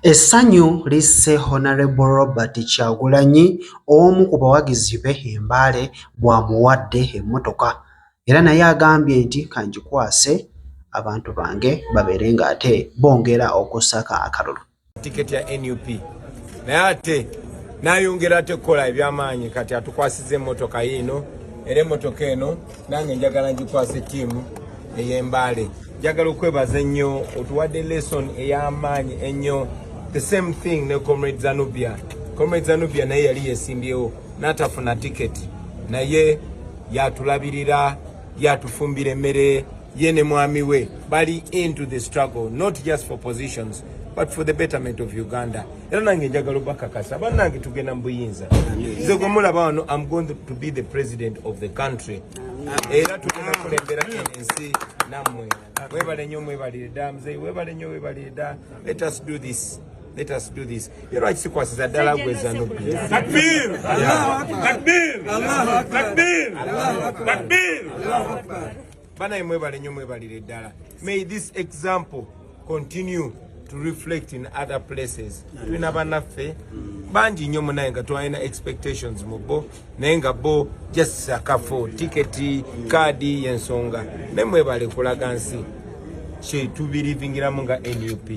Essanyu lisse Honorable Robert Kyagulanyi omu ku bawagizi be e Mbale bw'amuwadde emmotoka era naye agambye nti kangikwase abantu bange babeere ng'ate bongera okussako akalulu. Tiketi ya nup naye ate nayongera ate kukola ebyamaanyi kati atukwasiza emmotoka yiino era emmotoka eno nange njagala ngikwasa ettiimu ey'embaale njagala okwebaza ennyo otuwadde lesson ey'amaanyi ennyo the same thing ne comrade zanubia comrade zanubia naye yali yesimbyewo n'atafuna tiketi naye yatulabirira yatufumbira emmere ye ne mwami we bali into the struggle not just for positions but for the betterment of uganda era nange njagala obakakasa banange tugenda mu buyinza nze gwe mulaba wano am going to be the president of the country era tugenda kulembera ensi nammwe webale nyo mwebalire dda muzeyi webale nyo webalire dda let us do this Let us do this. You know, it's equal to Dala Gwezano. Takbir! Takbir! Takbir! Takbir! banaye mwebale nyo mwebalire ddala may this example continue to reflect in other places tulina banaffe bangi nnyo munaye nga twalina expectations mu bo naye nga bo just akafo tiketi kaadi yensonga naye mwebale kulaga nsi kyetubirivingiramu nga nup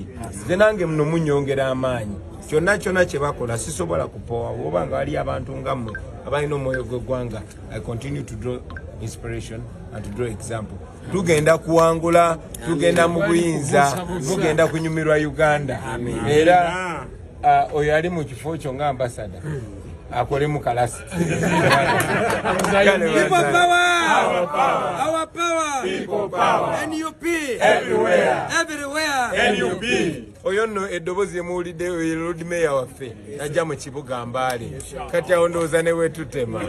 nze nange muno munyongera amaanyi kyonna kyonna kyebakola sisobola kupowa oba nga waliyo abantu nga mmwe abalina omwoyo gw'eggwanga I continue to draw inspiration and to draw example. Tugenda kuwangula, tugenda mu buyinza, tugenda kunyumirwa Uganda. Era uh, oyo ali mu kifo kyo nga ambasada hmm. akole mu kalasi. People power. NUP. Everywhere. Everywhere. NUP. oyo nno eddobozi lyemuwulidde oyo lord mayor waffe najja mu kibuga mbaale kati awo ndowooza ne wetutema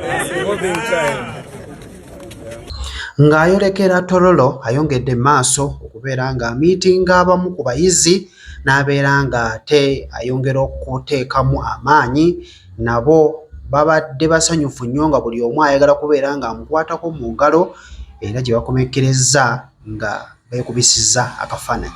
ng'ayolekera tololo ayongedde maaso okubeera ng'amiitinga abamu ku bayizi n'abeera ng'ate ayongera okuteekamu amaanyi nabo babadde basanyufu nnyo nga buli omu ayagala kubeera ng'amukwatako mu ngalo era gye bakomekkerezza nga beekubisizza akafaananyi.